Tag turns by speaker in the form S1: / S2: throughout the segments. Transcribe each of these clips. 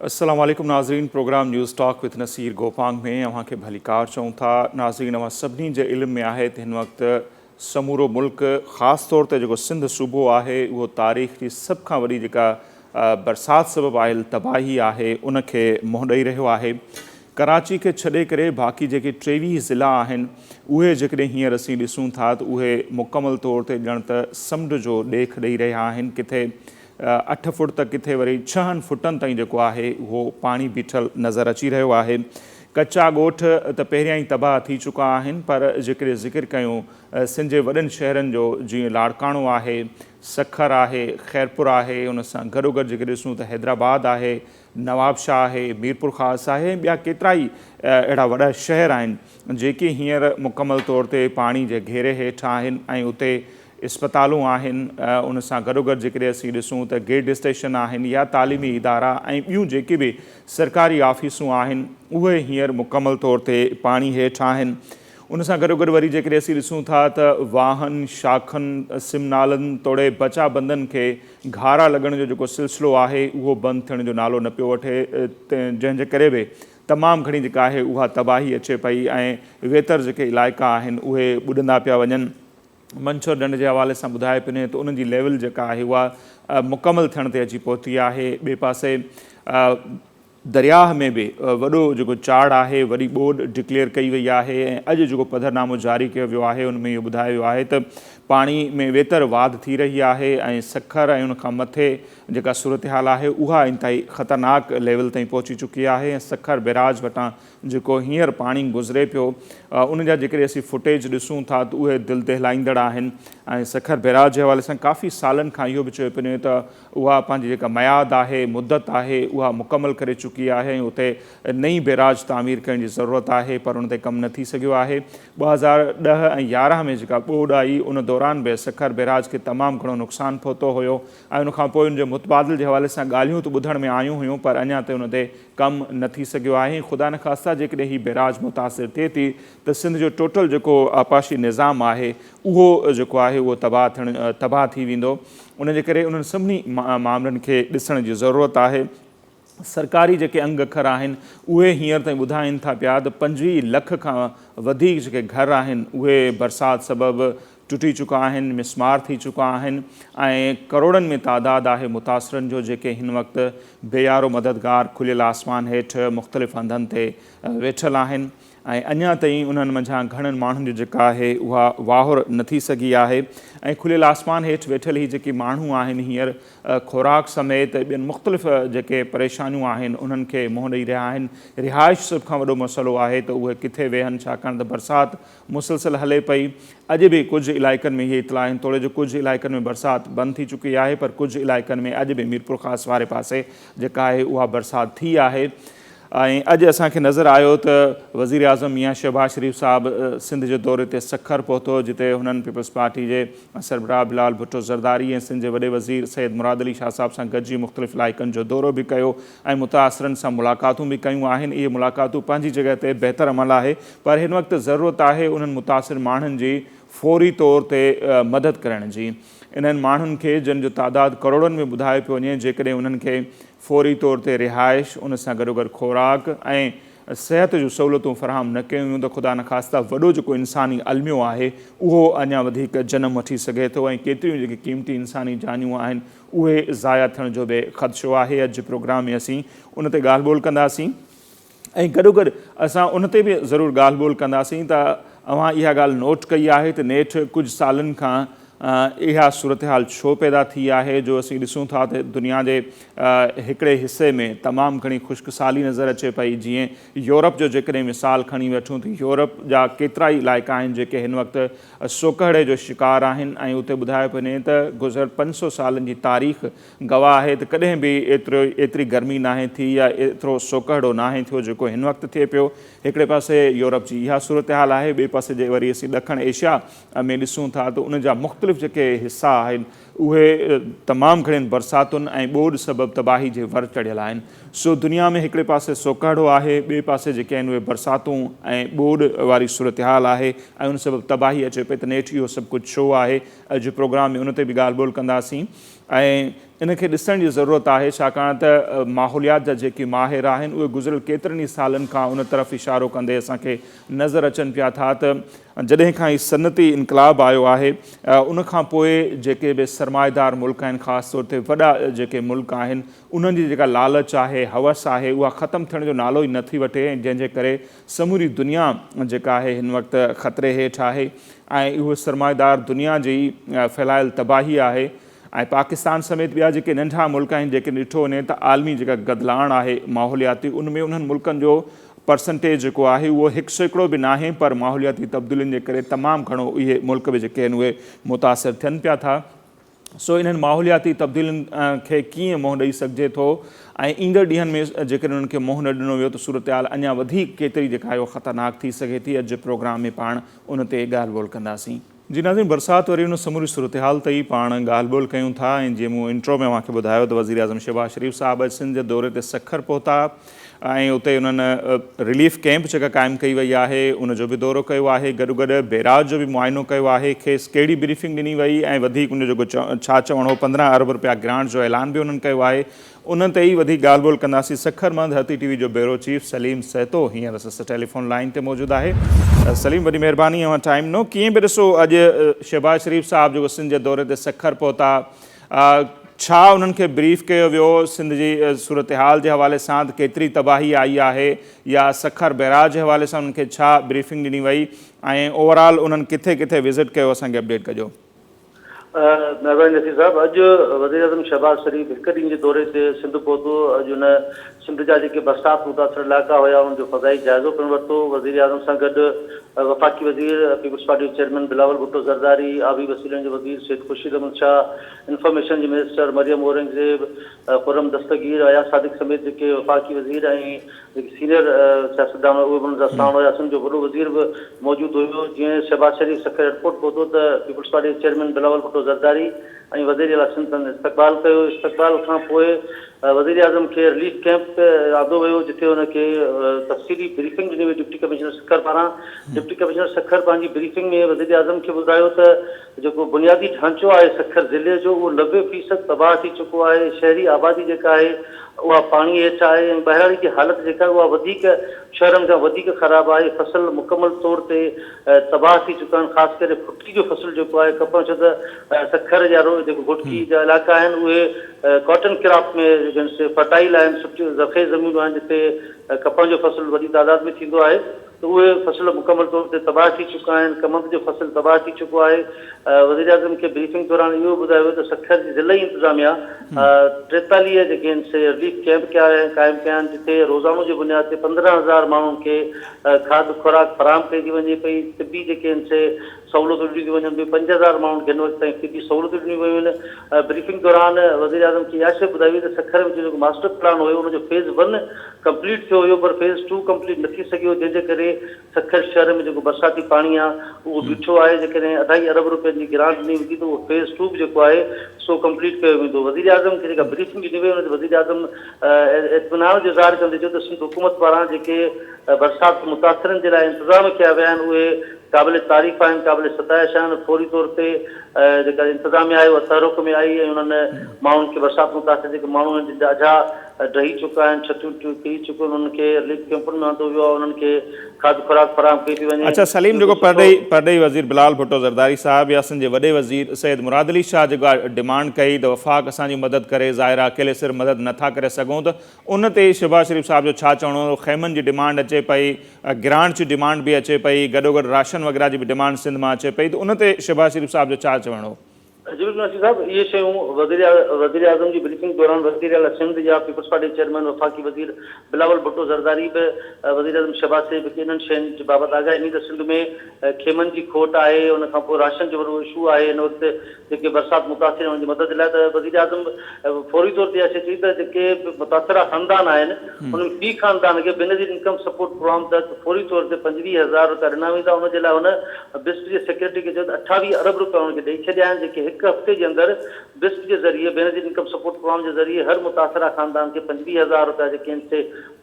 S1: السلام عليڪم ناظرين programme news talk with Nasir Gopang ۾ اوهان کي ڀليڪار چئون ٿا ناظرين اوهان سڀني جي علم ۾ آهي ته هن وقت سمورو ملڪ خاص طور تي جيڪو سنڌ صوبو آهي اهو تاريخ جي سڀ کان وڏي جيڪا برسات سبب آيل تباهي آهي ان کي منهن ڏئي رهيو آهي ڪراچي کي ڇڏي ڪري باقي جيڪي ٽيويهه ضلعا آهن اهي جيڪڏهن هينئر اسين ڏسون ٿا ته اهي مڪمل طور تي ڄڻ ته سمنڊ جو ڏيک ڏئي رهيا آهن ڪٿي اٺ فوٽ ته ڪٿي وري ڇهن فوٽن تائين جيڪو آهي اهو پاڻي بيٺل نظر اچي رهيو آهي ڪچا ڳوٺ ته پهريان ئي تباهه ٿي چڪا آهن پر جيڪڏهن ذڪر ڪيون سنڌ جي وڏن شهرن جو جيئن لاڙڪاڻو آهي سکر آهي خيرپور آهي ان سان گڏوگڏ جيڪڏهن ڏسون ته حيدرآباد آهي نواب شاهه آهي، ميرپورخاص آهي ۽ ٻيا ڪيترائي اهڙا وڏا شهر آهن جيڪي هينئر مڪمل طور تي پاڻي جي گهيري هيٺ آهن ۽ اتي اسپتالون آهن ان سان گڏوگڏ جيڪڏهن اسين ڏسون ته گيٽ اسٽيشن آهن يا تعليمي ادارا ۽ ٻيون جيڪي به سرڪاري آفيسون آهن اهي هينئر مڪمل طور تي پاڻي هيٺ آهن ان سان گڏوگڏ وري جيڪڏهن اسين ڏسون ٿا ته واهن، شاخن، سم نالن توڙي بچا بندن کي گهارا لڳڻ جو جيڪو سلسلو آهي اهو بند ٿيڻ جو نالو نه پيو وٺي جنهن جي ڪري به تمام گهڻي جيڪا آهي اها تباهي اچي پئي ۽ ويتر جيڪي علائقا آهن اهي ٻڏندا پيا وڃن. منڇر ڍنڍ جي حوالي سان ٻڌائي پني ته انهن جي ليول جيڪا آهي اها مڪمل ٿيڻ تي اچي پهتي آهي ٻئي پاسي درياهه ۾ به وڏو جيڪو چاڙهه آهي، وڏي ٻوڏ ڊڪليئر ڪئي وئي آهي ۽ اڄ جيڪو پڌرنامو جاري ڪيو ويو آهي ان ۾ اهو ٻڌايو ويو آهي ته پاڻي ۾ ويتر واڌ ٿي رهي آهي ۽ سکر ۽ ان کان مٿي جيڪا صورتحال آهي اها انتهائي خطرناڪ ليول تائين پهچي چڪي آهي ۽ سکر بيراج وٽان جيڪو هينئر پاڻي گذري پيو ان جا جيڪڏهن اسين فوٽيج ڏسون ٿا ته اهي دل دهلائيندڙ آهن ۽ سکر بيراج جي حوالي سان ڪافي سالن کان اهو به چيو پيو وڃي ته اها پنهنجي جيڪا ميعاد آهي، مدت آهي، اها مڪمل ڪري چڪي آهي ۽ اتي نئين بيراج تعمير ڪرڻ جي ضرورت آهي پر ان تي ڪم نه ٿي سگهيو آهي. ٻه هزار ڏهه ۽ يارهن ۾ جيڪا ٻوڏ آئي ان دوران به سکر بيراج کي تمام گهڻو نقصان پهتو هيو ۽ ان کانپوء ان جي متبادل جي حوالي سان ڳالهيون ته ٻڌڻ ۾ آيون هيون پر اڃا تائين ان تي ڪم نه ٿي سگهيو آهي ۽ خدا نخواسته جيڪڏهن هي بيراج متاثر ٿئي ٿي ته سنڌ جو ٽوٽل جيڪو آبپاشي نظام آهي اهو جيڪو آهي اهو تباهه ٿيڻ تباهه ٿي ويندو. ان جي ڪري انهن سڀني معاملن کي ڏسڻ جي ضرورت آهي. سرڪاري جيڪي انگ اکر آهن اهي هينئر تائين ٻڌائين ٿا پيا ته پنجويهه لک کان وڌيڪ جيڪي گهر آهن اهي برسات سبب ٽٽي چڪا آهن، مسمار ٿي چڪا آهن ۽ ڪروڙن ۾ تعداد آهي متاثرن جو جيڪي هن وقت بيارو مددگار کليل آسمان هيٺ مختلف هنڌن تي ويٺل آهن. ۽ اڃا تائين انهن منجهان گهڻن ماڻهن جو جيڪا آهي اها واهر نه ٿي سگهي آهي ۽ کليل آسمان هيٺ ويٺل هي جيڪي ماڻهو آهن هينئر خوراڪ سميت ٻين مختلف جيڪي پريشانيون آهن انهن کي منهن ڏئي رهيا آهن رهائش سڀ کان وڏو مسئلو آهي ته اهي ڪٿي ويهن ڇاڪاڻ ته برسات مسلسل هلي پئي اڄ به ڪجهه علائقن ۾ اهي اطلاع آهن توڙي جو ڪجهه علائقن ۾ برسات بند ٿي چڪي آهي پر ڪجهه علائقن ۾ اڄ به ميرپورخاص واري پاسي جيڪا آهي اها برسات ٿي آهي ۽ اڄ اسان کي نظر آيو ته وزيراعظم ميان شهباز شريف صاحب سنڌ جي دوري تي سکر پهتو جتي هنن پيپلزپارٽي جي سربراهه بلال ڀٽو زرداري ۽ سنڌ جي وڏي وزير سيد مراد علي شاهه صاحب سان گڏجي مختلف علائقن جو دورو به ڪيو ۽ متاثرن سان ملاقاتون به ڪيون آهن اهي ملاقاتون پنهنجي جڳهه تي بهتر عمل آهي پر هن وقت ضرورت آهي انهن متاثر ماڻهن جي فوري طور تي مدد ڪرڻ جي انهن ماڻهن کي جن جو تعداد ڪروڙن ۾ ٻڌايو پيو وڃي جيڪڏهن انهن کي فوري طور تي رهائش، ان سان گڏوگڏ خوراڪ ۽ صحت جون سهولتون فراهم نه ڪيون ويون ته خدا نخواسته وڏو جيڪو انساني الميو آهي اهو اڃا وڌيڪ جنم وٺي سگهي ٿو ۽ ڪيتريون جيڪي قيمتي انساني جانيون آهن اهي ضايع ٿيڻ جو به خدشو آهي اڄ جي پروگرام ۾ اسين ان تي ڳالهه ٻولهه ڪنداسين. ۽ گڏوگڏ اسان ان تي به ضرور ڳالهه ٻولهه ڪنداسين ته اوهان اها ڳالهه نوٽ ڪئي آهي ته نيٺ ڪجهه سالن کان اها صورتحال ڇو پيدا ٿي آهي جو اسين ڏسون ٿا ته دنيا جي هڪڙي حصي ۾ تمام گهڻي خشڪ سالي نظر اچي پئي جيئن يورپ جو جيڪڏهن مثال کڻي وٺون ته يورپ جا ڪيترائي علائقا آهن جيڪي هن وقت سوڪهڙي جو شڪار آهن ۽ اتي ٻڌايو پئي وڃي ته گذريل پنج سو سالن جي تاريخ گواهه آهي ته ڪڏهن به ايتري گرمي ناهي ٿي يا ايترو سوڪهڙو ناهي ٿيو جيڪو هن وقت ٿئي پيو. هڪڙي پاسي يورپ جي اها صورتحال آهي ٻئي پاسي جي وري اسين ڏکڻ ايشيا ۾ ڏسون ٿا ته ان جا مختلف جيڪي حصا آهن اهي تمام گهڻين برساتن ۽ ٻوڏ سبب تباهي جي ور چڙهيل آهن سو دنيا ۾ هڪڙي پاسي سوڪهڙو آهي ٻئي پاسي جيڪي آهن اهي برساتون ۽ ٻوڏ واري صورتحال آهي ۽ ان سبب تباهي اچي پئي ته نيٺ اهو سڀ ڪجهه ڇو آهي اڄ پروگرام ۾ ان تي به ڳالهه ٻولهه ڪنداسين. ۽ ان کي ڏسڻ جي ضرورت آهي ڇاڪاڻ ته ماحوليات جا جيڪي ماهر آهن اهي گذريل ڪيترن ئي سالن کان ان طرف اشارو ڪندي اسان کي نظر اچن پيا ٿا ته جڏهن کان هي صنعتي انقلاب آيو آهي ان کان پوء جيڪي به سرمائيدار ملڪ آهن خاص طور تي وڏا جيڪي ملڪ آهن انهن جي جيڪا لالچ آهي حوس آهي اها ختم ٿيڻ جو نالو ئي نه ٿي وٺي ۽ جنهن جي ڪري سموري دنيا جيڪا آهي هن وقت خطري هيٺ آهي ۽ اهو سرمائيدار دنيا جي ئي ڦهلايل تباهي آهي ۽ پاڪستان سميت ٻيا جيڪي ننڍا ملڪ آهن جيڪي ڏٺو وڃي ته عالمي جيڪا گدلاڻ آهي ماحولياتي ان ۾ انهن ملڪن جو پرسنٽيج جيڪو آهي اهو هڪ سيڪڙو به ناهي پر ماحولياتي تبديلين جي ڪري تمام گهڻو اهي ملڪ به جيڪي آهن اهي متاثر ٿين پيا ٿا. سو انهن ماحولياتي تبديلين کي ڪيئن منهن ڏئي سگهجي ٿو ۽ ايندڙ ڏينهن ۾ جيڪڏهن انهن کي منهن نه ڏنو ويو ته صورتحال اڃا وڌيڪ ڪيتري جيڪا آهي اها خطرناڪ ٿي سگهي ٿي اڄ جي پروگرام ۾ پاڻ ان تي ڳالهه ٻولهه ڪنداسين. جي ناظرين برسات وري ان سموري صورتحال تي ئي پاڻ ڳالهه ٻولهه ڪيون ٿا ۽ جيئن مون انٽرو ۾ اوهان کي ٻڌايو ته وزيراعظم شهباز شريف صاحب اڄ سنڌ جي دوري تي سکر پهتا ۽ اتي انهن رليف ڪئمپ جيڪا قائم ڪئي وئي آهي ان جو به دورو ڪيو آهي گڏوگڏ بيراج جو به معائنو ڪيو آهي کيس ڪهڙي بريفنگ ڏني وئي ۽ وڌيڪ ان جو ڇا چوڻ هو پندرهن ارب رپيا گرانٽ جو اعلان به انهن ڪيو آهي ان تي ئي وڌيڪ ڳالهه ٻولهه ڪنداسين سکر مند هتي ٽي وي جو بيورو چيف سليم سهتو هينئر سست ٽيليفون لائين تي موجود آهي سليم وڏي مهرباني اوهان ٽائيم ڏنو ڪيئن به ڏسو اڄ شهباز شريف صاحب جيڪو سنڌ جي دوري تي سکر پهتا ڇا انهن کي بريف ڪيو ويو سنڌ جي صورتحال جي حوالي سان ته ڪيتري تباهي آئي آهي يا سکر بئراج جي حوالي سان انهن کي ڇا بريفنگ ڏني وئي ۽ اوورآل انهن ڪٿي ڪٿي وزٽ ڪيو اسان کي اپڊيٽ ڪجو. مهرباني نصير صاحب
S2: اڄ وزيراعظم شهباز شريف هڪ ڏينهن جي دوري تي سنڌ پهتو اڄ هن سنڌ جا جيڪي برسات متاثر علائقا هيا انهن جو فضائي جائزو پڻ ورتو، وزيراعظم سان گڏ وفاقي وزير، پيپلزپارٽي جو چيئرمين بلاول ڀٽو زرداري، آبي وسيلن جي وزير سيد خورشيد احمد شاهه، انفارميشن جي منسٽر مريم اورنگزيب، خرم دستگير، اياز صادق سميت جيڪي وفاقي وزير ۽ جيڪي سينئر سياستدان هئا اهي به انهن سان ساڻ هيا، سنڌ جو وڏو وزير به موجود هيو، جيئن شهباز شريف سکر ايئرپورٽ پهتو ته پيپلزپارٽي جي چيئرمين بلاول ڀٽو زرداري، ۽ وزيراعليٰ سندن استقبال ڪيو، استقبال کان پوء وزيراعظم کي رليف ڪئمپ تي آندو ويو جتي هن کي تفصيلي بريفنگ ڏني وئي ڊپٽي ڪمشنر سکر پاران، ڊپٽي ڪمشنر سکر پنهنجي بريفنگ ۾ وزيراعظم کي ٻڌايو ته جيڪو بنيادي ڍانچو آهي سکر ضلعي جو اهو نوي فيصد تباهه ٿي چڪو آهي، شهري آبادي جيڪا آهي اها پاڻي هيٺ آهي ۽ ٻهراڙي جي حالت جيڪا آهي اها وڌيڪ شهرن کان وڌيڪ خراب آهي، فصل مڪمل طور تي. تباهه ٿي چڪا آهن خاص ڪري ڦٽي جو فصل جيڪو آهي ڪپهه ڇو ته سکر يا جيڪو گهوٽڪي جا علائقا آهن اهي ڪاٽن ڪراپ ۾ جيڪي فرٽائل آهن سٺيون زرخيز زمينون آهن جتي ڪپهه جو فصل وڏي تعداد ۾ ٿيندو آهي ته اهي فصل مڪمل طور تي تباهه ٿي چڪا آهن ڪمند جو فصل تباهه ٿي چڪو آهي وزيراعظم کي بريفنگ دوران اهو ٻڌايو ويو ته سکر جي ضلعي انتظاميا ٽيتاليهه جيڪي رليف ڪيمپ قائم ڪيا آهن جتي روزانو جي بنياد تي پندرهن هزار ماڻهن کي کاڌ خوراڪ فراهم ڪئي ٿي وڃي پئي، طبي جيڪي آهن سي سهولتون ڏنيون ٿيون وڃن پيون، پنج هزار ماڻهن کي هن وقت تائين طبي سهولتون ڏنيون ويون آهن، بريفنگ دوران وزيراعظم کي اها شيء ٻڌائي وئي ته سکر وچ جو جيڪو ماسٽر پلان هيو ان جو فيز ون ڪمپليٽ ٿيو هيو پر فيز ٽو ڪمپليٽ نه ٿي سگهيو جنهن جي ڪري سکر شهر ۾ جيڪو برساتي پاڻي آهي اهو بيٺو آهي جيڪڏهن اڍائي ارب روپين جي گرانٽ ڏني ويندي ته اهو فيز ٽو به جيڪو آهي سو ڪمپليٽ ڪيو ويندو، وزيراعظم کي جيڪا بريفنگ ڏني وئي ان تي وزيراعظم اطمينان جو اظهار ڪندي چيو ته سنڌ حڪومت پاران جيڪي برسات متاثرن جي لاء انتظام ڪيا ويا آهن اهي قابل تعريف آهن قابل ستائش آهن فوري طور تي جيڪا انتظاميا آهي اها تحرڪ ۾ آئي ۽ انهن ماڻهن کي برسات متاثر جيڪي ماڻهو آهن جن جا اجها ڊهي چڪا آهن ڇتيون ٽڙي چڪيون آهن انهن کي رليف ڪيمپن ۾ آندو ويو آهي انهن کي کاڌ خوراڪ فراهم ڪئي پئي وڃي. اچا سليم جيڪو پرڏيهي
S1: پرڏيهي وزير بلال ڀٽو زرداري صاحب يا سنڌ جي وڏي وزير سيد مراد علي شاهه جيڪا ڊمانڊ ڪئي ته وفاق اسان جي مدد ڪري ظاهر آ اڪيلي سر مدد نه ٿا ڪري سگهون ته ان تي شهباز شريف صاحب جو ڇا چوڻو هو خيمن جي ڊمانڊ اچي پئي گرانٽ جي ڊمانڊ به اچي پئي گڏوگڏ راشن وغيره جي به ڊمانڊ سنڌ مان اچي پئي ته ان تي شهباز شريف صاحب جو ڇا چوڻ هو. جميل نوشي صاحب
S2: اهي شيون وزير وزيراعظم جي بريفنگ دوران وزير اعليٰ سنڌ يا پيپلزپارٽي چيئرمين وفاقي وزير بلاول ڀٽو زرداري به وزيراعظم شهباز شريف کي انهن شين جي بابت آگاهي ڏني ته سنڌ ۾ خيمن جي کوٽ آهي ان کانپوء راشن جو وڏو اشو آهي ان وقت جيڪي برسات متاثرين انهن جي مدد لاء ته وزيراعظم فوري طور تي اها شيء چئي ته جيڪي به متاثره خاندان آهن انهن في خاندان کي بينظير انڪم سپورٽ پروگرام تحت فوري طور تي پنجويهه هزار رپيا ڏنا ويندا ان جي لاء هن بسپ جي سيڪريٽري کي چيو ته اٺاويهه ارب رپيا انهن کي ڏئي ڇڏيا آهن جيڪي هڪ هفتي جي اندر بسپ جي ذريعي بينظير انڪم سپورٽ پروگرام جي ذريعي هر متاثره خاندان کي پنجويهه هزار رپيا جيڪي آهن سي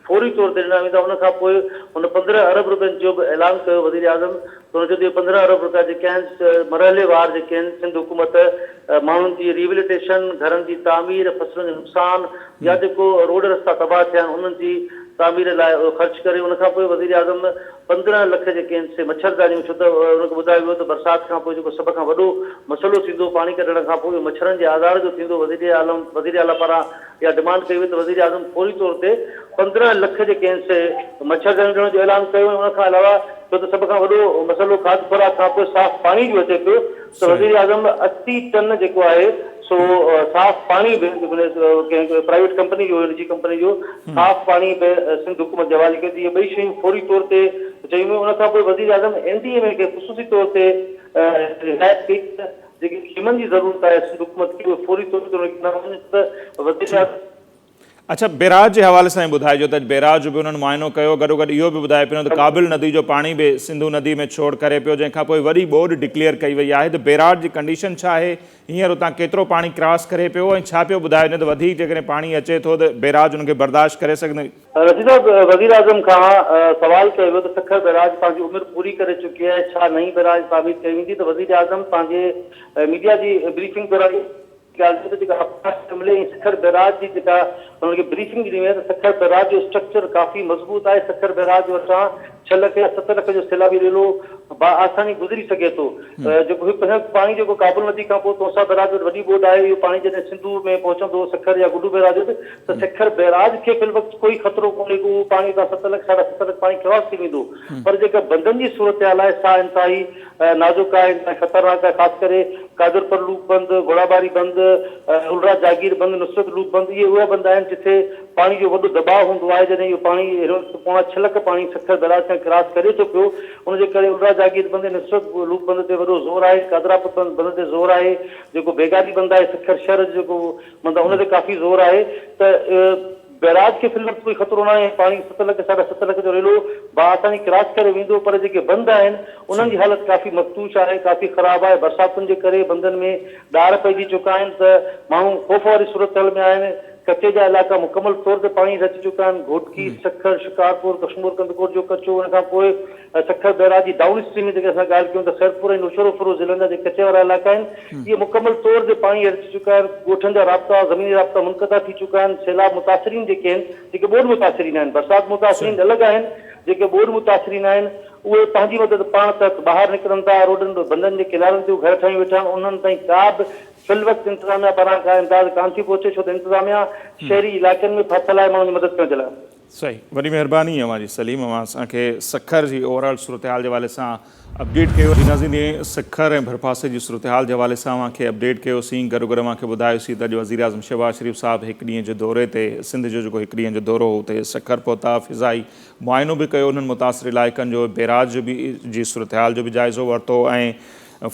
S2: فوري طور تي ڏنا ويندا ان کان پوء هن پندرهن ارب رپين جو به اعلان ڪيو وزيراعظم ته هن چيو ته اهي پندرهن ارب رپيا جيڪي آهن مرحلي وار جيڪي آهن سنڌ حڪومت ماڻهن جي ريهبليٽيشن گهرن جي تعمير فصلن جو نقصان يا جيڪو روڊ رستا تباهه ٿيا آهن انهن جي تعمير لاء اهو خرچ ڪري ان کان پوء وزيراعظم پندرهن لک جيڪي آهن سي مڇردانيون ڇو ته ان کي ٻڌايو ويو ته برسات کان پوء جيڪو سڀ کان وڏو مسئلو ٿيندو پاڻي ڪڍڻ کان پوء اهو مڇرن جي آزار جو ٿيندو وزيراعلم وزيراعليٰ پاران اها ڊمانڊ ڪئي وئي ته وزيراعظم فوري طور تي پندرهن لک جي ڪين سي مڇردانيون ڏيڻ جو اعلان ڪيو ۽ ان کان علاوه ڇو ته سڀ کان وڏو مسئلو کاڌ خوراڪ کانپوء صاف پاڻي جو اچي پيو ته وزيراعظم اسي ٽن جيڪو آهي سو صاف پاڻي به ڪنهن پرائيويٽ ڪمپني جو نجي ڪمپني جو صاف پاڻي به سنڌ حڪومت جي حوالي ڪيو ته اهي ٻئي شيون فوري طور تي چيون ويون ان کانپوء وزيراعظم اين ڊي ايم اي کي خصوصي طور تي هدايت ڪئي ته جيڪي خيمن جي ضرورت آهي سنڌ حڪومت کي اهي فوري طور تي انهن کي ڏنا وڃن ته وزيراعظم اڇا
S1: بيراج جي حوالي سان ٻڌائجو ته اڄ بيراج جو به انهن معائنو ڪيو گڏوگڏ اهو به ٻڌائي پنو ته ڪابل ندي جو پاڻي به سنڌو ندي ۾ ڇوڙ ڪري پيو جنهن کان پوء وڏي ٻوڏ ڊڪليئر ڪئي وئي آهي ته بيراج جي ڪنڊيشن ڇا آهي هينئر اتان ڪيترو پاڻي ڪراس ڪري پيو ۽ ڇا پيو ٻڌايو وڃي ته وڌيڪ جيڪڏهن پاڻي اچي ٿو ته بيراج ان کي برداشت ڪري سگهندو رشيد صاحب
S2: وزيراعظم کان سوال ڪيو ويو ته سکر بئراج پنهنجي عمر پوري ڪري چڪي آهي ڇا نئين بئراج تعمير ڪئي ويندي ته وزيراعظم پنهنجي ميڊيا جي بريفنگ دوران اها ڳالهه چئي ته جيڪا آبپاش M L A ۽ Sukkur barrage جي جيڪا انهن کي بريفنگ ڏني وئي آهي ته سکر بئراج جو اسٽرڪچر ڪافي مضبوط آهي سکر بئراج وٽان ڇهه لک يا ست لک جو سيلابي ريلو بآساني گذري سگهي ٿو جيڪو هي پنهنجو پاڻي جيڪو ڪابل ندي کانپوء تونسا بئراج وٽ وڏي ٻوڏ آهي اهو پاڻي جڏهن سنڌو ۾ پهچندو سکر يا گڊو بئراج وٽ ته سکر بئراج کي في الوقت ڪوئي خطرو ڪونهي ڪو پاڻي تان ست لک ساڍا ست لک پاڻي خواص ٿي ويندو پر جيڪا بندن جي صورتحال آهي سا انتهائي نازڪ آهي انتهائي خطرناڪ آهي خاص ڪري قادرپر لوپ بند گهوڙاٻاري بند الرا جاگير بند نصرت لوپ بند اهي اهي بند آهن جتي پاڻي جو وڏو دٻاء هوندو آهي جڏهن اهو پاڻي هن وقت پوڻا ڇهه لک پاڻي سکر بئراج کان ڪراس ڪري ٿو پيو ان جي ڪري الرا جاگير بند ۽ نصرت لوپ بند تي وڏو زور آهي قادراپر بند تي زور آهي جيڪو بيگاري بند آهي سکر شهر جو جيڪو ماندا ان تي ڪافي زور آهي ته بئراج کي في الوقت ڪوئي خطرو ناهي ۽ پاڻي ست لک ساڍا ست لک جو ريلو بآساني ڪراس ڪري ويندو پر جيڪي بند آهن انهن جي حالت ڪافي مفتوش آهي ڪافي خراب آهي برساتن جي ڪري بندن ۾ ڏار پئجي چڪا آهن ته ماڻهو خوف واري صورتحال ۾ آهن ڪچي جا علائقا مڪمل طور تي پاڻي هيٺ اچي چڪا آهن گهوٽڪي سکر شڪارپور ڪشمور ڪنڌڪوٽ جو ڪچو ان کانپوء ۽ سکر بئراج جي ڊائون اسٽريم جيڪڏهن اسان ڳالهه ڪيون ته خيرپور ۽ نوشهروفيروز ضلعن جا جيڪي ڪچي وارا علائقا آهن اهي مڪمل طور تي پاڻي هيٺ اچي چڪا آهن ڳوٺن جا رابطا زميني رابطا منقطع ٿي چڪا آهن سيلاب متاثرين جيڪي آهن جيڪي ٻوڏ متاثرين آهن برسات متاثرين الڳ آهن جيڪي ٻوڏ متاثرين آهن اهي پنهنجي مدد پاڻ تحت ٻاهر نڪرن ٿا روڊن بندن جي ڪنارن تي گهر ٺاهيون ويٺا آهن انهن تائين ڪا به في الوقت انتظاميا پاران ڪا امداد ڪانه ٿي پهچي ڇو ته انتظاميا شهري علائقن ۾ ڦاٿل آهي ماڻهن جي مدد ڪرڻ جي لاء صحيح وڏي مهرباني
S1: اوهان جي سليم اوهان اسان کي سکر جي اوور آل صورتحال جي حوالي سان اپڊيٽ ڪيو. جي ناظرين جي سکر ۽ ڀرپاسي جي صورتحال جي حوالي سان اوهان کي اپڊيٽ ڪيو سين گڏو گڏ اوهان کي ٻڌايو سين ته اڄ وزيراعظم شهباز شريف صاحب هڪ ڏينهن جي دوري تي سنڌ جو جيڪو هڪ ڏينهن جو دورو هو اتي سکر پهتا فضائي معائنو به ڪيو انهن متاثر علائقن جو بيراج جو به جي صورتحال جو به جائزو ورتو ۽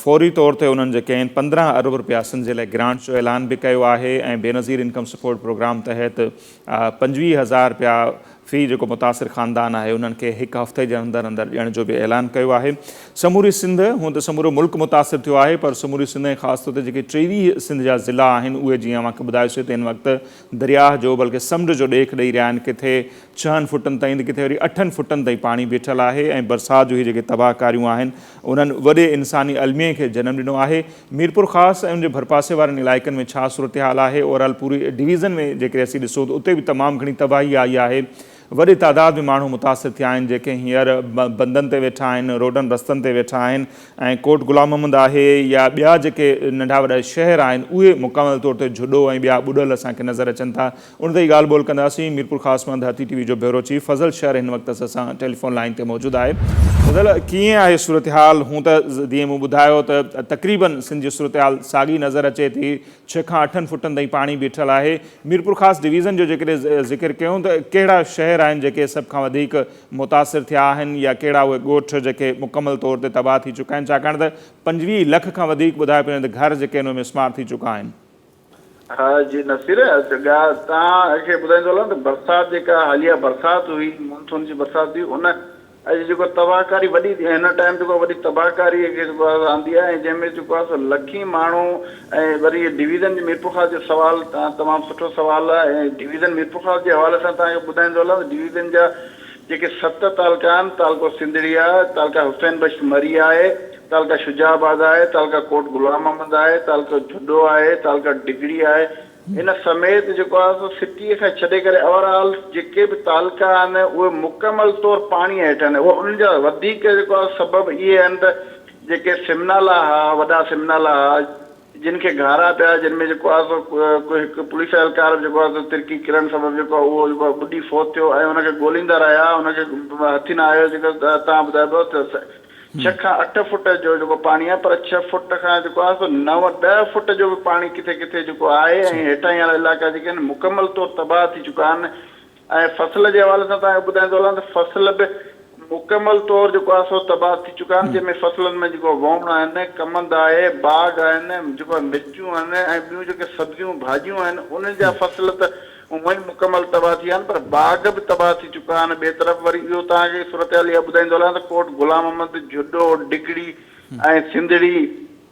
S1: فوري طور تي انهن جي ڪين پندرهن ارب رپيا سنڌ جي لاء گرانٽ جو اعلان به ڪيو آهي ۽ بينظير انڪم سپورٽ پروگرام تحت پنجويهه هزار رپيا في جيڪو متاثر خاندان آهي انهن کي هڪ هفتي جي اندر اندر ڏيڻ جو به اعلان ڪيو آهي سموري سنڌ هونء ته سمورو ملڪ متاثر ٿيو آهي پر سموري سنڌ ۽ خاص طور تي جيڪي ٽيويهه سنڌ جا ضلعا آهن اهي جيئن اوهان کي ٻڌايو سي ته هن وقت درياهه جو بلڪه سمنڊ جو ڏيک ڏئي رهيا آهن ڪٿي ڇهن فٽن تائين ته ڪٿي وري اٺن فٽن تائين پاڻي بيٺل آهي ۽ برسات جو هي جيڪي تباهه ڪاريون آهن انهن وڏي انساني الميي کي جنم ڏنو آهي. ميرپورخاص ۽ ان جي ڀرپاسي وارن علائقن ۾ ڇا صورتحال آهي؟ اورال پوري ڊويزن ۾ جيڪڏهن اسين ڏسون ته اتي به تمام گهڻي تباهي آئي آهي. وڏي تعداد ۾ ماڻهو متاثر ٿيا آهن جيڪي هينئر بندن تي ويٺا آهن، روڊن رستن تي ويٺا آهن ۽ ڪوٽ غلام محمد آهي يا ٻيا جيڪي ننڍا وڏا شهر آهن اهي مڪمل طور تي جهڏو ۽ ٻيا ٻڏل اسان کي نظر اچن ٿا. ان تي ئي ڳالهه ٻولهه ڪنداسين. ميرپورخاص مان ڌرتي ٽي وي جو بيورو چيف فضل شر هن وقت اسان سان ٽيليفون لائين تي موجود آهي. فضل ڪيئن آهي صورتحال؟ هون ته جيئن مون ٻڌايو ته تقريبن سنڌ جي صورتحال ساڳي نظر اچي ٿي، ڇهه کان اٺن فٽن تائين پاڻي بيٺل آهي. ميرپورخاص ڊويزن جو جيڪڏهن ذڪر ڪيون ته ڪهڙا شهر آهن جيڪي سڀ کان وڌيڪ متاثر ٿيا آهن يا ڪهڙا اهي ڳوٺ جيڪي مڪمل طور تي تباهه ٿي چڪا آهن ڇاڪاڻ ته پنجويهه لک کان وڌيڪ ٻڌايو پيو وڃي ته گهر جيڪي آهن اهي مسمار ٿي چڪا آهن. ها
S3: جي نصير اچ ڳا تان کي ٻڌائيندو هلان ته برسات جيڪا حاليه برسات هئي مونسون جي برسات هئي ان اڄ جيڪو تباهڪاري وڏي هن ٽائيم جيڪو وڏي تباهڪاري کي جيڪو آهي آندي آهي ۽ جنهن ۾ جيڪو آهي سو لکين ماڻهو ۽ وري ڊويزن جي ميرپورخاص جو سوال تمام سٺو سوال آهي ۽ ڊويزن ميرپورخاص جي حوالي سان تان کي ٻڌائيندو هلان ته ڊويزن جا جيڪي ست تعلقا آهن، تعلقو سنڌڙي آهي، تعلقا حسين بخش مري آهي، تعلقا شجاع آباد آهي، تعلقا ڪوٽ غلام محمد آهي، تعلقو جهڏو آهي، تعلقا ڊگهڙي آهي، ان سميت جيڪو آهي سو سٽيء کان ڇڏي ڪري اوور آل جيڪي به تعلقا آهن اهي مڪمل طور پاڻيء هيٺ آهن. انهن جا وڌيڪ جيڪو آهي سبب اهي آهن ته جيڪي سمنالا هئا، وڏا سمنالا هئا، جن کي گهارا پيا جن ۾ جيڪو آهي سو هڪ پوليس اهلڪار به جيڪو آهي سو ترڪي ڪرڻ سبب جيڪو آهي اهو جيڪو آهي ٻڏي فوت ٿيو ۽ ان کي ڳوليندا رهيا ان کي هٿ نه آيو جيڪو تان ٻڌايو پيو ته ڇهه کان اٺ فوٽ جو جيڪو پاڻي آهي پر ڇهه فوٽ کان جيڪو آهي سو نو ڏهه فوٽ جو به پاڻي ڪٿي ڪٿي جيڪو آهي ۽ هيٺاهين وارا علائقا جيڪي آهن مڪمل طور تباهه ٿي چڪا آهن ۽ فصل جي حوالي سان توهان کي ٻڌائيندو هلان ته فصل به مڪمل طور جيڪو آهي سو تباهه ٿي چڪا آهن جنهن ۾ فصلن ۾ جيڪو ووڻ آهن، ڪمند آهي، باغ آهن، جيڪو آهي مرچون آهن ۽ ٻيون جيڪي سبزيون ڀاڄيون آهن انهن جا فصل ته هونئن ئي مڪمل تباهه ٿي ويا آهن پر باغ به تباهه ٿي چڪا آهن ٻئي طرف وري اهو توهان کي صورتحال اها ٻڌائيندو هلان ته ڪوٽ غلام محمد، جهڏو، ڊگهڙي ۽ سنڌڙي،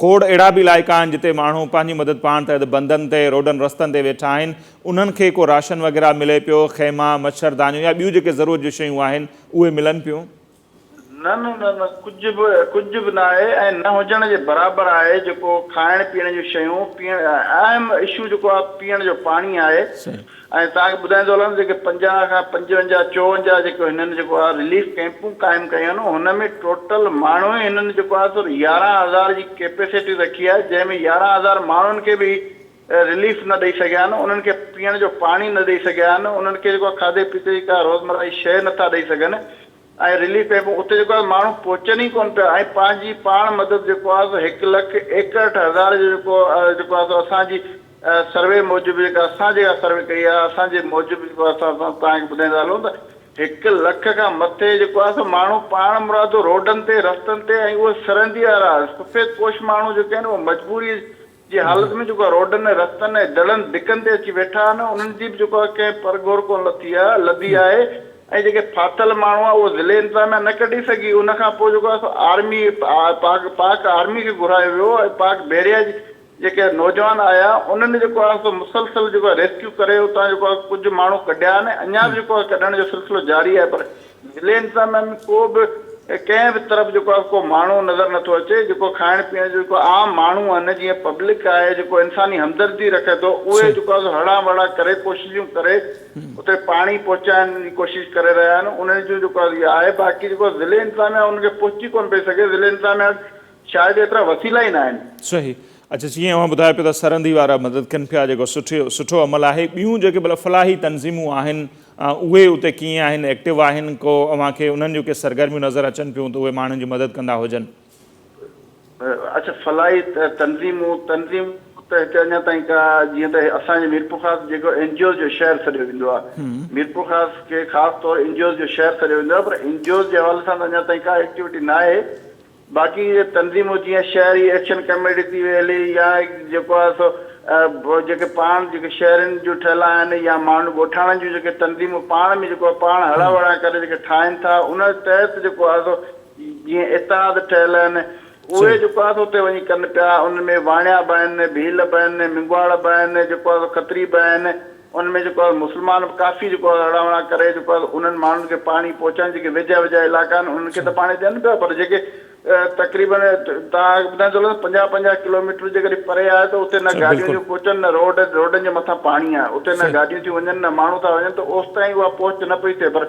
S1: کوڙ اهڙا به علائقا آهن جتي ماڻهو پنهنجي مدد پاڻ تحت بندن تي، روڊن رستن تي ويٺا آهن، انهن کي ڪو راشن وغيره ملي پيو، خيما، مڇر دانيون يا ٻيون جيڪي ضرورت جون شيون آهن اهي ملن پيون؟ نه نه نه
S3: نه ڪجهه به ڪجهه به نه آهي ۽ نه هجڻ جي برابر آهي جيڪو کائڻ پيئڻ جون شيون پيئڻ اهم اشو جيڪو آهي پيئڻ جو پاڻي آهي. صحيح. ۽ توهان کي ٻڌائيندو هلان جيڪي پنجاهه کان پنجونجاهه چوونجاهه جيڪو هنن جيڪو آ رليف ڪئمپون قائم ڪيون آهن هن ۾ ٽوٽل ماڻهو ئي هنن جيڪو آ سر يارهن هزار جي ڪيپيسٽي رکي آهي جنهن ۾ يارهن هزار ماڻهن کي به رليف نه ڏئي سگهيا آهن انهن کي پيئڻ جو پاڻي نه ڏئي سگهيا آهن انهن کي جيڪو آ کاڌي پيتي جي ڪا روزمره جي شيء نٿا ڏئي سگهن ۽ رليف ڪئمپون اتي جيڪو آهي ماڻهو پهچن ئي ڪونه پيا ۽ پنهنجي پاڻ مدد جيڪو آهي سو هڪ لک ايڪهٺ هزار جو جيڪو جيڪو آهي سو اسان جي سروي موجب جيڪا اسان جيڪا سروي ڪئي آهي اسان جي موجب جيڪو آهي سو اسان توهان کي ٻڌائيندا هلون ته هڪ لک کان مٿي جيڪو آهي سو ماڻهو پاڻ مرادو روڊن تي رستن تي ۽ اهي سرندي وارا سفيد پوش ماڻهو جيڪي آهن اهي مجبوري جي حالت ۾ جيڪو روڊن ۽ رستن ۽ دڙن دڪن تي اچي ويٺا آهن انهن جي به جيڪو آهي ڪنهن پر گهور ڪونه لٿي آهي لڌي آهي ۽ جيڪي ڦاٿل ماڻهو آهي اهو ضلعي انتظاميا نه ڪڍي سگهي ان کان پوء جيڪو آهي سو آرمي پاڪ پاڪ آرمي کي گهرايو ويو ۽ پاڪ بحريا جي جيڪي نوجوان آيا انهن جيڪو آهي سو مسلسل جيڪو آهي ريسڪيو ڪري اتان جيڪو آهي ڪجهه ماڻهو ڪڍيا آهن اڃا به جيڪو آهي ڪڍڻ جو سلسلو جاري آهي پر ضلعن سان ۾ ڪو به ڪنهن به طرف جيڪو آهي ڪو ماڻهو نظر نٿو اچي جيڪو کائڻ پيئڻ جو جيڪو عام ماڻهو آهن جيئن پبلڪ آهي جيڪو انساني همدردي رکي ٿو اهي جيڪو آهي هڙا وڙا ڪري ڪوششون ڪري اتي پاڻي پهچائڻ جي ڪوشش ڪري رهيا آهن انهن جون جيڪو آهي اها آهي باقي جيڪو ضلعي انتظاميه انهن کي پهچي ڪونه پئي سگهي ضلعي انتظاميه وٽ شايد ايترا وسيلا ئي نه آهن. صحيح اچا
S1: جيئن اوهان ٻڌايو پيو ته سرندي وارا مدد ڪن پيا جيڪو سٺو عمل آهي ٻيون جيڪي ڀلا فلاحي تنظيمون آهن اهي اتي ڪيئن آهن، ايڪٽو آهن ڪو، اوهان کي انهن جون ڪي سرگرميون نظر اچن پيون ته اهي ماڻهن جي مدد ڪندا هجن؟
S3: اچ فلاحي تنظيمون، تنظيمون ته هتي اڃا تائين ڪا جيئن ته اسان جي ميرپورخاص جيڪو اين جي اوز جو شهر سڏيو ويندو آهي، ميرپورخاص کي خاص طور اين جي اوز جو شهر سڏيو ويندو آهي پر اين جي اوز جي حوالي سان ته اڃا تائين ڪا ايڪٽيوٽي ناهي باقي اهي تنظيمون جيئن شهري ايڪشن ڪميٽي ٿي ويلي يا جيڪو آهي سو جيڪي پاڻ جيڪي شهرين جون ٺهيل آهن يا ماڻهن ڳوٺاڻن جون جيڪي تنظيمون پاڻ ۾ جيڪو پاڻ هڙان وڙان ڪري جيڪي ٺاهين ٿا ان تحت جيڪو آهي سو جيئن اتحاد ٺهيل آهن اهي جيڪو آهي سو اتي وڃي ڪن پيا انهن ۾ واڻيا به آهن ڀيل به آهن مينگواڙ به آهن جيڪو آهي سو کتري به آهن ان ۾ جيڪو آهي مسلمان به ڪافي جيڪو آهي اڙا وڙا ڪري جيڪو آهي انهن ماڻهن کي پاڻي پهچائين جيڪي ويجها ويجها علائقا آهن انهن کي ته پاڻي ڏين پيا پر جيڪي تقريبن تان ٻڌائي ٿو لڳان پنجاهه پنجاهه ڪلوميٽر جيڪڏهن پري آهي ته اتي نه گاڏيون ٿيون پهچن نه روڊ روڊن جي مٿان پاڻي آهي اتي نه گاڏيون ٿيون وڃن نه ماڻهو ٿا وڃن ته اوستائين اها پهچ نه پئي ٿئي پر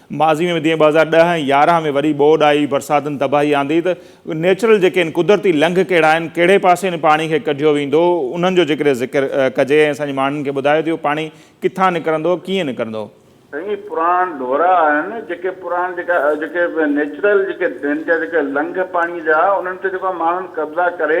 S1: ماضي ۾ به جيئن ٻه هزار ڏهه ۽ يارهن ۾ وڏي ٻوڏ آئي، برساتن تباهي آندي ته نيچرل جيڪي آهن، قدرتي لنگهه ڪهڙا آهن، ڪهڙي پاسي هن پاڻي کي ڪڍيو ويندو، انهن جو جيڪڏهن ذڪر ڪجي ۽ اسان جي ماڻهن کي ٻڌايو ته اهو پاڻي ڪٿان نڪرندو، ڪيئن نڪرندو؟ سائين پراڻ
S3: ڍورا آهن جيڪي پراڻ جيڪا جيڪي نيچرل جيڪي ڊرين جا جيڪي لنگهه پاڻي جا انهن تي جيڪو ماڻهن قبضا ڪري،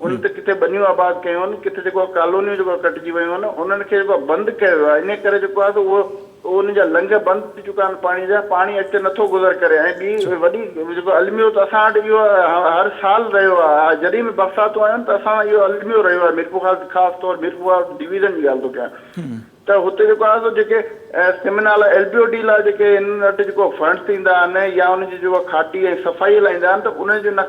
S3: ان تي ڪٿي ٻنيون آباد ڪيون آهن، ڪٿي جيڪو آهي ڪالونيون جيڪو آهي ڪٽجي ويون آهن، انهن کي جيڪو آهي بند ڪيو ويو آهي، انهيء ڪري جيڪو آهي سو اهو انهن جا لنگهه بند ٿي چڪا آهن پاڻيء جا، پاڻي اڳتي نٿو گذر ڪري ۽ ٻي وڏي جيڪو الميو ته اسان وٽ اهو هر سال رهيو آهي، جڏهن به برساتون آيون ته اسان وٽ اهو الميو رهيو آهي، ميرپورخاص خاص طور ميرپورخاص ڊويزن جي ڳالهه ٿو ڪيان، ته هتي جيڪو آهي سو جيڪي سيمينا لاء ايل بي او ڊي لاء جيڪي هن وٽ جيڪو فنڊ ٿيندا آهن يا ان جي جيڪو کاٽي ۽ صفائي هلائيندا آهن ته ان جون نه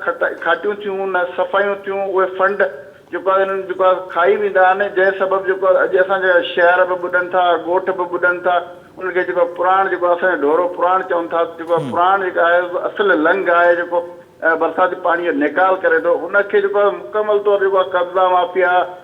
S3: کاٽيون ٿيون نه صفايون ٿيون اهي فنڊ جيڪو آهي انهن جيڪو آهي کائي ويندا آهن جنهن سبب جيڪو آهي اڄ اسان جا شهر به ٻڏن ٿا ڳوٺ به ٻڏن ٿا انهن کي جيڪو پراڻ جيڪو اسان جو ڍورو پراڻ چون ٿا جيڪو آهي پراڻ جيڪو آهي اصل لنگ آهي جيڪو برساتي پاڻي جو نيڪال ڪري ٿو ان کي جيڪو آهي مڪمل طور جيڪو آهي قبضا مافيا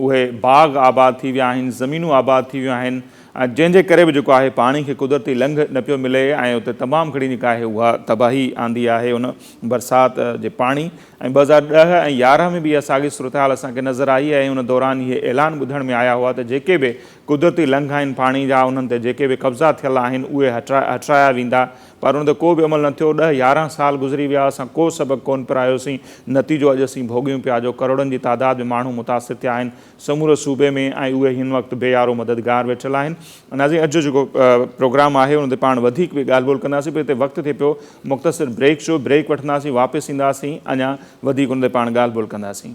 S1: اهي باغ آباد ٿي ويا آهن، زمينون آباد ٿي ويون آهن، جنهن جي ڪري به جيڪو آهي پاڻي کي قدرتي لنگهه نه پيو ملي ۽ اتي تمام گهڻي جيڪا آهي اها تباهي آندي آهي ان برسات جي پاڻي ۽ ٻه هزار ڏهه ۽ يارهن ۾ به اها ساڳي صورتحال اسان کي نظر آئي ۽ ان دوران اهي اعلان ٻڌڻ ۾ آيا هئا ته جيڪي به قدرتي لنگهه آهن پاڻي جا انهن تي جيڪي به قبضا ٿيل آهن اهي هٽرايا ويندا پر ان تي ڪو به عمل نه ٿيو. ڏهه يارهن سال گذري ويا، اسان ڪو سبق ڪونه پرايوسين، نتيجو اڄ اسين ڀوڳيون پيا جو ڪروڙن جي تعداد ۾ ماڻهو متاثر ٿيا آهن سموري صوبي ۾ ۽ اهي هن وقت بي يارو مددگار ويٺل آهن. ناظرين اڄ جو جيڪو پروگرام آهي ان تي پاڻ وڌيڪ به ڳالهه ٻولهه ڪنداسين پر هتي وقت ٿئي پيو مختصر بريڪ جو، بريڪ وٺنداسين واپس اينداسين اڃا وڌيڪ ان تي پاڻ ڳالهه ٻولهه ڪنداسين.